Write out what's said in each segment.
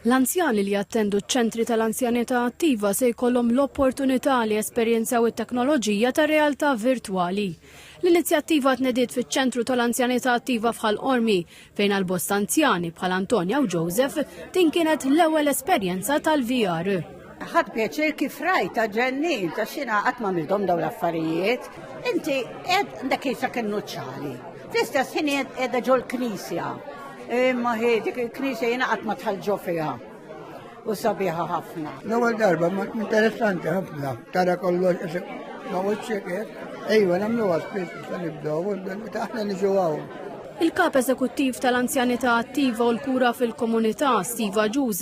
L-anzjani li jattendu ċ-ċentri tal-anzjanità attiva se jkollhom l-opportunità li jesperjenzaw it-teknoloġija tar-realtà virtwali. L-inizjattiva tnediet fiċ-Ċentru tal-Anzjanità Attiva f'Ħal Qormi, fejn għal bosta anzjani, bħal Antonia u Joseph, din kienet l-ewwel esperjenza tal-VR. Ħadd pjaċir kif rajt ta' ġennin ta' xina qatt ma midhom dawn l-affarijiet. Inti qed dak jisa kienu ċali. Fl-istess ħin qiegħda ġol knisja. Imma hi dik il-knisja jiena qatt ma tħallġo fiha u sabiħa ħafna. L-ewwel darba interessanti ħafna tara kollox ma wiċċek Ejwa, namlu għaspis sa nibdow, taħna niġu għaw. Il-kap eżekuttiv tal-anzjanità attiva u l-kura fil-komunità, Steve Ġuż,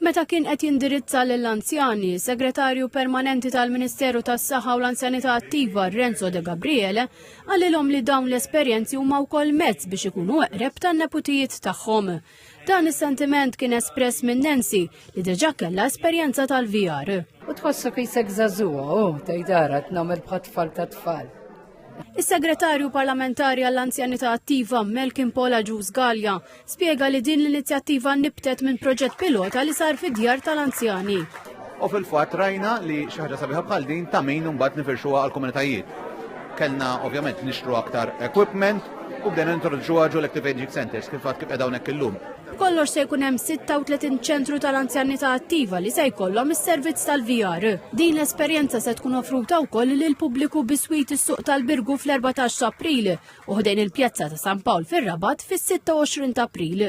Meta kien qed jindirizza lill-anzjani, is-Segretarju Permanenti tal-Ministeru tas-Saħħa u l-Anzjanità Attiva, Renzo De Gabriele, qalilhom li dawn l-esperjenzi huma wkoll mezz biex ikunu eqreb tan-neputijiet tagħhom. Dan is-sentiment kien espress minn Nancy li diġà kellha esperjenza tal-VR. U tħossu kisek żagħżugħa, u oh, tgħidara tnagħmel bħat tfal ta' tfal. Is-Segretarju Parlamentari għall-Anzjanità Attiva Melkin Pola Ġuż Gallia Spjega li din l-inizjattiva nibtet minn proġett pilota li sar fid-djar tal-anzjani. U fil-fatt rajna li xi ħaġa sabiħa bħal din ta' min imbagħad nifirxuha għall-komunitajiet. Kellna ovvjament nixtru aktar equipment u bdejna nintroduċuha ġo l-Active Aging Centers kif fatt kif qed hawnhekk illum. B'kollox se jkun hemm 36 ċentru tal-anzjanità attiva li se jkollhom is-servizz tal-VR. Din l-esperjenza se tkun offruta wkoll lill-pubbliku biswit is-Suq tal-Birgu fl-14 t'April u ħdejn il-Pjazza ta' San Pawl fir-Rabat fis-26 ta' April.